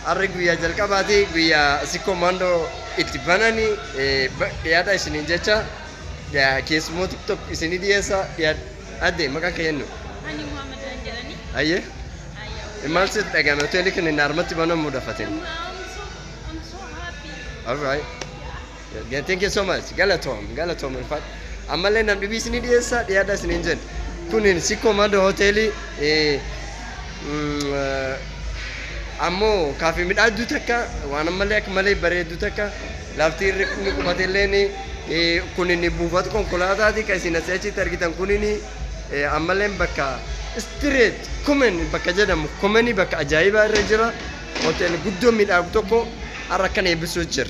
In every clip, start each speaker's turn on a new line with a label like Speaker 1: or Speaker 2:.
Speaker 1: Harri guyyaa jalqabaati guyyaa sikkoo maandoo itti banani dhiyaadha isiniin jecha keessumoo tiktok isinii dhiyeessa adde maqaan kee eenyu? Ani Muhammad
Speaker 2: Zan jedhani. Ayyee Ayyahu.
Speaker 1: maal sitti dhagahame hoteelli kun inni harmatti banamuudha fatin. I'm so, I'm
Speaker 2: so happy. Alright.
Speaker 1: Yeah, thank you so much. Galatoom, galatoom ulfaat. Ammallee nam dhibiis ni dhiyeessa, dhiyaadha isin hin jennu. Kunin Sikkoo Mando Hoteelii eh, mm, eh, ammoo kaafee midhaagduu takka waan ammallee akka malee bareedduu takka lafti irri inni qubate illee ni eh, kunin buufata konkolaataati kan isin asii achitti argitan kunin eh, ammallee bakka istireet kumen bakka jedhamu kumeni bakka ajaa'ibaa irra jira hoteela guddoo midhaagu tokko har'a kan eebbisuu jira.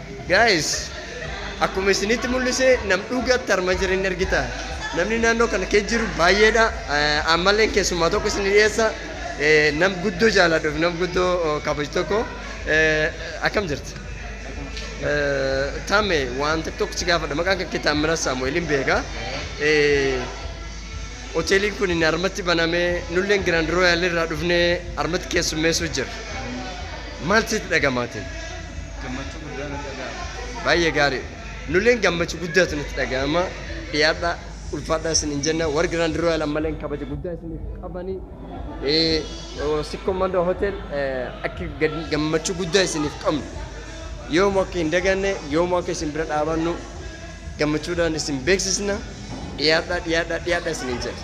Speaker 1: Guys akkuma isinitti mul'ise nam dhugaatti harma jira hin argita. Namni naannoo kana keessa jiru baay'eedha. Eh, Ammallee keessumaa tokko isin dhiyeessa. Eh, Nam guddoo jaaladhuuf nam guddoo oh, kabaju tokko. Eh, Akkam jirti? Eh, Taame waan tokko tokko si gaafadha. Maqaan kan kee Taammiraa Saamu'eeliin beeka. Eh, Hoteeliin kun inni harmatti banamee nulleen Giraand Rooyaal irraa dhufnee harmatti keessummeessuu jira. Maal sitti dhagamaate? Gammachuu
Speaker 3: guddaa natti dhaga'ama. Baay'ee gaarii dha.
Speaker 1: Nulleen gammachu guddaatu nutti dhaga'ama. Dhiyaadha, ulfaadha isiniin jenna. Warri Grand Royal ammalleen kabaja guddaa isiniif qabani. Eh, oh, Sikkoo Mandoo Hotel eh, akka gad- gammachuu guddaa isiniif qabnu. Yoomuu akka hin daganne, yoomuu akka isin bira dhaabannu gammachuudhaan isin beeksisna. Dhiyaadha, dhiyaadha, dhiyaadha isiniin jenna.